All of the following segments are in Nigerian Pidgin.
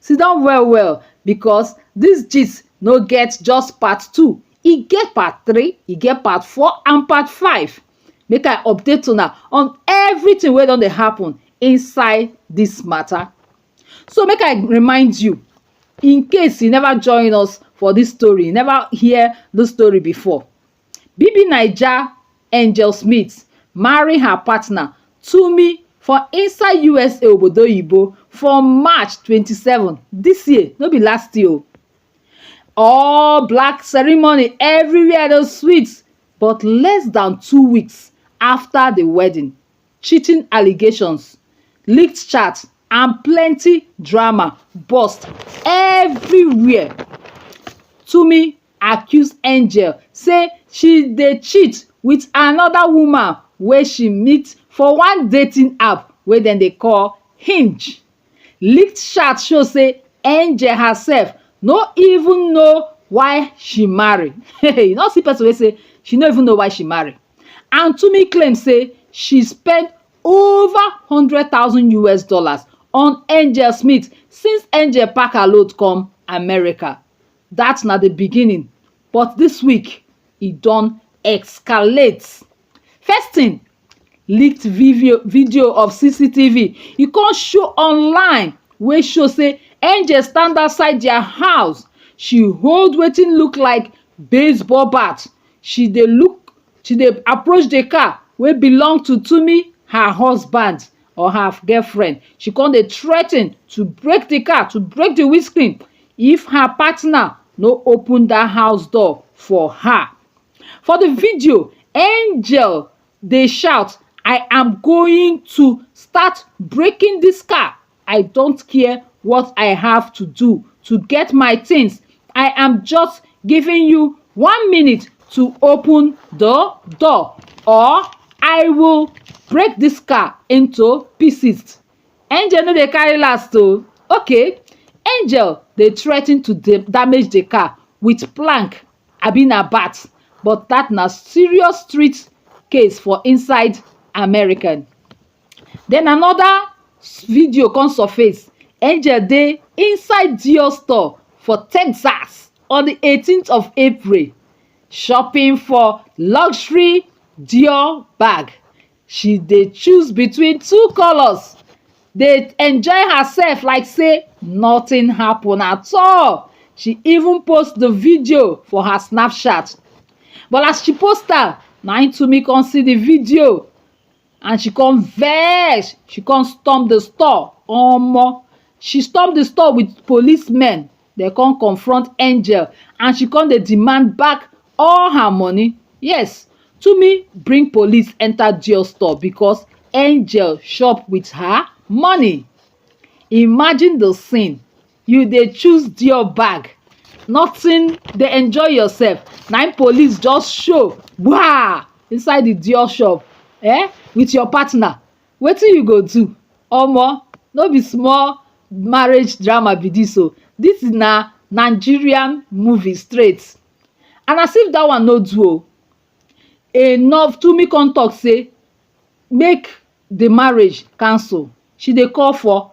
Siddon well well because this gist no get just part two, e get part three, e get part four and part five. Make I update una on everything wey don dey happen inside this matter. So make I remind you, in case you never join us for this story, you never hear this story before, bbnaija angel smith marry her partner tumi for inside usa obodo oyinbo for march 27 dis year no be last year o all black ceremony everywhere dey sweet but less dan two weeks afta di wedding cheating allegations, leaked chat and plenty drama burst everywhere. Tomi accuse Angel say she dey cheat with another woman wey she meet for one dating app wey dem dey call Hinge. Leaked chat show say Angel herself no even know why she marry. you no see person wey say she no even know why she marry. And Tumi claim say she spend over 100,000 US dollars on Angel Smith since Angel pack her load come America. That na the beginning, but this week e don escalate. First thing, leaked video video of CCTV e come show online wey show say Angel stand outside their house. She hold wetin look like baseball bat. She dey look she dey approach the car wey belong to Tumi, her husband or her girlfriend. She come dey threaten to break the car, to break the windscreen if her partner no open dat house door for her. For di video, Angel dey shout I am going to start breaking dis car, I don't care what I have to do to get my things, I am just giving you one minute to open di door or I will break dis car into pieces. Angel no dey carry last o, okay, Angel dey threaten to damage di car with plank abi na bat but dat na serious street case for inside America. Den another video come surface, Angel dey inside Dior store for Texas on di eighteen of April shopping for luxury Dior bag She dey choose between two colours dey enjoy herself like say nothing happen at all she even post the video for her snapchat but as she post am na im Tumi come see the video and she come vex she come storm the store omo she storm the store with police men Dem come confront Angel and she come dey demand back all her money. Yes, Tumi bring police enter Dior store because Angel shop with her money. Imagine the scene, you dey choose Dior bag, nothing, dey enjoy yourself, na im police just show gbaa inside the Dior shop um with your partner. Wetin you go do omo no be small marriage drama be this o this na Nigerian movie straight and as if that one no do o enough Tunmi come talk say make the marriage cancel she dey call for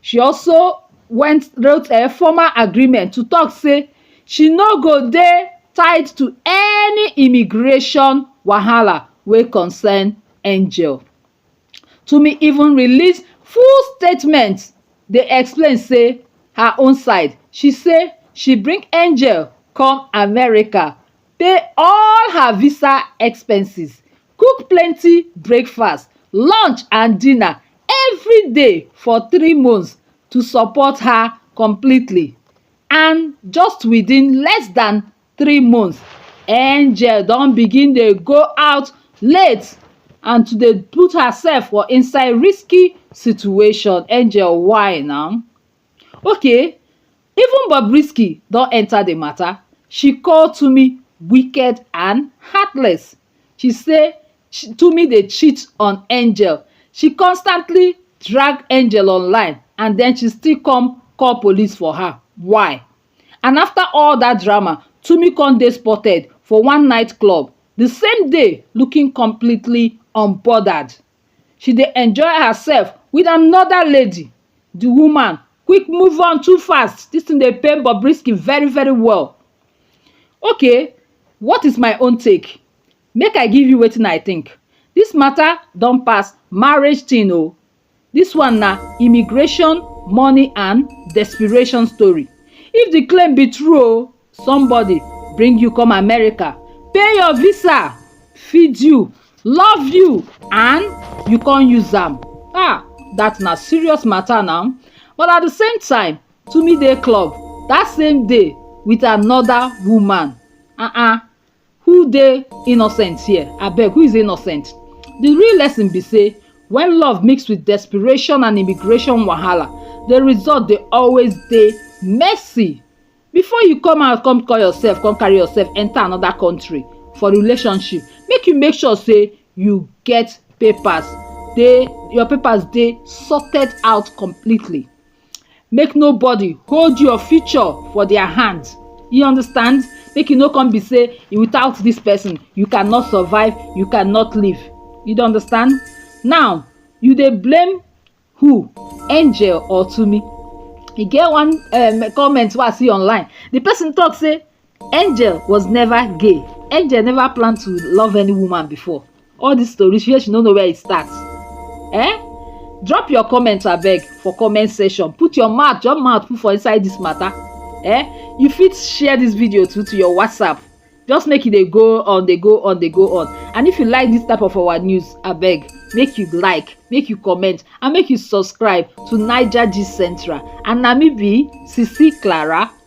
she also went wrote a formal agreement to tok say she no go dey tied to any immigration wahala wey concern angel twumasi even release full statement dey explain say her own side she say she bring angel come america pay all her visa expenses cook plenty breakfast lunch and dinner every day for three months to support her completely and just within less dan three months angel don begin dey go out late and to dey put herself for inside risky situation angel why na Okay even Bobrisky don enter the matter, she call Tunmi wicked and heartless, she say Tunmi dey cheat on Angel, she constantly drag Angel online and then she still come call police for her, why? And after all that drama, Tunmi come dey spotted for one night club the same day looking completely unbothered. she dey enjoy herself with another lady the woman quick move on too fast this thing dey pain Bobrisky very very well okay what is my own take make I give you wetin I think this matter don pass marriage thing o this one na immigration money and desperation story if the claim be true o somebody bring you come america pay your visa feed you love you and you con use am ah that na serious matter now but at the same time Tumi dey club that same day with another woman uh-uh who dey innocent here abeg who is innocent the real lesson be say when love mix with desperation and immigration wahala the result dey always dey messy before you come out come call yourself come carry yourself enter another country for relationship make you make sure say you get papers dey your papers dey sorted out completely Make nobody hold your future for their hand. You understand? Make you no come be say without this person you cannot survive, you cannot live. You don't understand? Now you dey blame who? Angel or Tumi? E get one um, comment wey I see online. The person talk say angel was never gay angel never plan to love any woman before all this story she she no know where e start eh drop your comment abeg for comment section put your mouth your mouth put for inside this matter eh you fit share this video too to your whatsapp just make e dey go on dey go on dey go on and if you like this type of our news abeg make you like make you comment and make you subscribe to niger gist central and na me be sisi clara